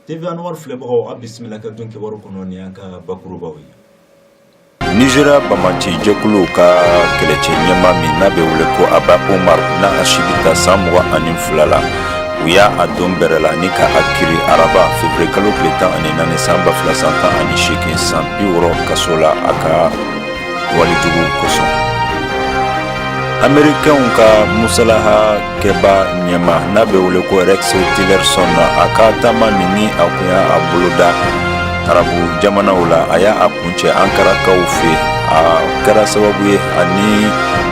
TV Anwar filɛbagaw a bisimila ka don kibaru kɔnɔ ni an ka bakurubaw ye. Nizeriya bamanci jɛkuluw ka kɛlɛcɛ ɲɛmaa min n'a bɛ wele ko Aba Omar n'a si bɛ taa san mugan ani fila la u y'a a don bɛrɛ la ni ka a kiri araba fevrier kalo tile tan ani naani san ba fila san tan ani seegin san bi wɔɔrɔ kaso la a ka walijugu kosɔn amerikɛnw ka musalaha kɛba ɲɛmaa n'a bɛ wele ko rex tillerson na a ka taama min ni a kun y'a a boloda arabu jamanaw la a y'a a kuncɛ ankarakaw fɛ a kɛra sababu ye ani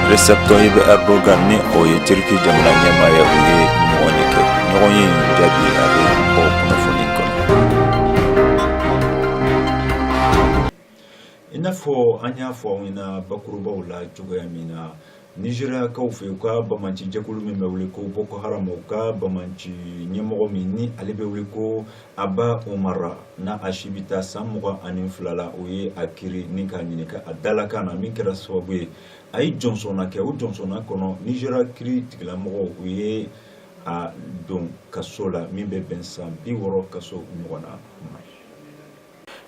recep tayyip erdogan ni o ye turki jamana ɲɛmaa ye u ye ɲɔgɔn ye kɛ ɲɔgɔn ye in jaabi a bɛ bɔ kunnafoni i n'a fɔ an y'a fɔ aw ɲɛna bakurubaw la cogoya min na nizeriyakaw fɛ u ka bamanci jɛkulu min bɛ wele ko boko haram u ka bamanci ɲɛmɔgɔ min ni ale bɛ wele ko aba omar n'a si bɛ taa san mugan ani fila la u ye a kiri ni k'a ɲininka a dalakan na min kɛra sababu ye a ye jɔnsɔnna kɛ o jɔnsɔnna kɔnɔ nizeriya kiri tigilamɔgɔw u ye a don kaso la min bɛ bɛn san bi wɔɔrɔ kaso ɲɔgɔnna ma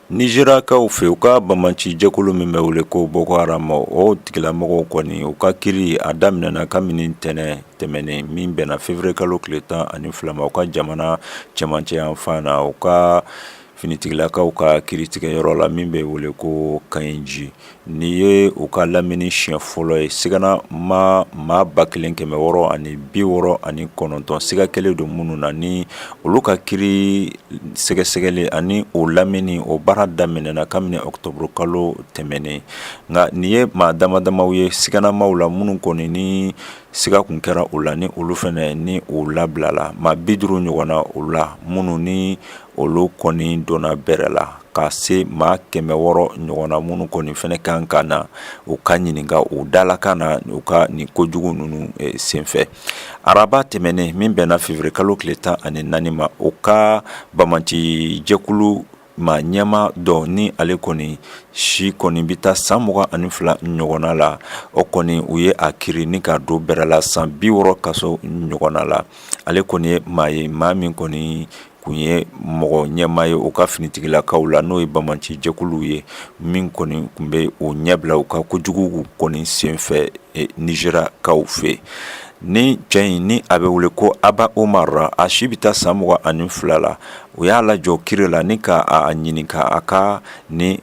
Nizeriyakaw fɛ u ka bamanci jɛkulu min bɛ wele ko boko haram o tigilamɔgɔw kɔni u ka kiri a daminɛna kabini ntɛnɛn tɛmɛnen min bɛnna fevrier kalo tile tan ani fila ma u ka jamana cɛmancɛ yanfan na u ka finitigilakaw ka kiritigɛyɔrɔ la min bɛ wele ko kainji Nin ye u ka lamini siɲɛ fɔlɔ ye siganama maa ba kelen kɛmɛ wɔɔrɔ ani bi wɔɔrɔ ani kɔnɔntɔn siga kɛlen don minnu na ni olu ka kiri sɛgɛsɛgɛli ani o lamini o baara daminɛna kabini octobre kalo tɛmɛnen nka nin ye maa damadamaw ye siganamaw la minnu kɔni ni siga kun kɛra u la ni olu fɛnɛ ni u labilala maa bi duuru ɲɔgɔn na u la minnu ni olu kɔni donna bɛrɛ la ka se maa kɛmɛ wɔɔrɔ ɲɔgɔnna minnu kɔni fɛnɛ kan ka na u ka ɲininka u dalakan na u ka nin kojugu ninnu senfɛ araba tɛmɛnen min bɛnna fevrier kalo tile tan ani naani ma u ka bamanci jɛkulu maa ɲɛmaa dɔ ni ale kɔni si kɔni bɛ taa san mugan ani fila ɲɔgɔnna la o kɔni u ye a kiri ni k'a don bɛrɛ la san bi wɔɔrɔ kaso ɲɔgɔnna la ale kɔni ye maa ye maa min kɔni kun ye mɔgɔ ɲɛmaa ye u ka finitigilakaw la n'o ye bamanci jɛkuluw ye min kɔni kun bɛ u ɲɛbila u ka kojugu kɔni senfɛ nizeriyakaw fɛ ni cɛ in ni a bɛ wele ko aba omar a si bɛ taa san mugan ani fila la u y'a lajɔ kiri la ni k'a ɲininka a ka nin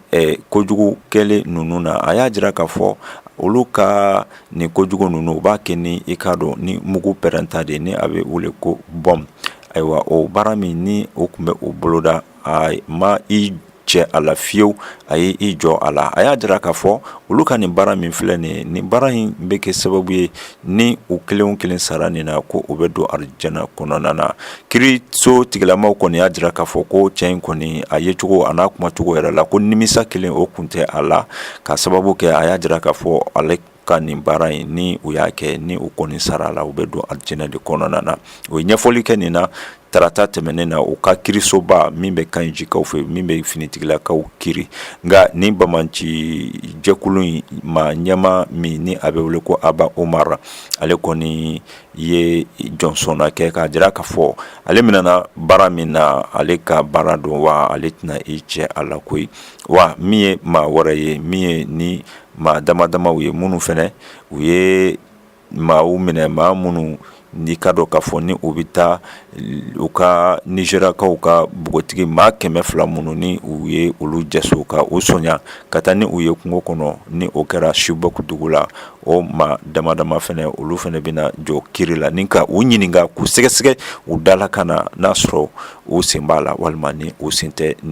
kojugu kɛlen ninnu na a y'a jira k'a fɔ olu ka Nin ko jugu ninnu u b'a kɛ ni i k'a dɔn ni mugu pɛrɛnta de ni a bɛ wele ko bɔm ayiwa o baara min ni u kun bɛ o boloda a ma i cɛ a la fiyewu a ye i jɔ a la a y'a jira k'a fɔ olu ka nin baara min filɛ nin nin baara in bɛ kɛ sababu ye ni u kelen kelen sara nin na ko u bɛ don arijana kɔnɔna na kiiriso tigilamaw kɔni y'a jira k'a fɔ ko cɛ in kɔni a yecogo a n'a kumacogo yɛrɛ la ko nimisa kelen o kun tɛ a la ka sababu kɛ a y'a jira k'a fɔ ale ka nin baara in ni u y'a kɛ ni u kɔni sara a la u bɛ don alijɛnɛ de kɔnɔna na o ye ɲɛfɔli kɛ nin na tarata tɛmɛnen na u ka kiirisoba min bɛ Kayinjikaw fɛ min bɛ finitigilakaw kiri nka ni banbaanci jɛkulu in maa ɲɛmaa min ni a bɛ wele ko Aba Umar ale kɔni ye jɔnsɔnna kɛ k'a jira k'a fɔ ale minɛna baara min na ale ka baara don wa ale tɛna i cɛ a la koyi wa min ye maa wɛrɛ ye min ye ni maa dama damama ye minnu fɛnɛ u ye maaw minɛ maa minnu n'i k'a dɔn k'a fɔ ni u bɛ taa u ka Nizeriyakaw ka npogotigi maa kɛmɛ fila minnu ni u ye olu jɛso ka u sonya ka taa ni u ye kungo kɔnɔ ni o kɛra Shibɔk dugu la o maa damadama fɛnɛ olu fɛnɛ bɛna jɔ kiri la ni ka u ɲininka k'u sɛgɛsɛgɛ u dalakan na n'a sɔrɔ u sen b'a la walima ni u sen tɛ nin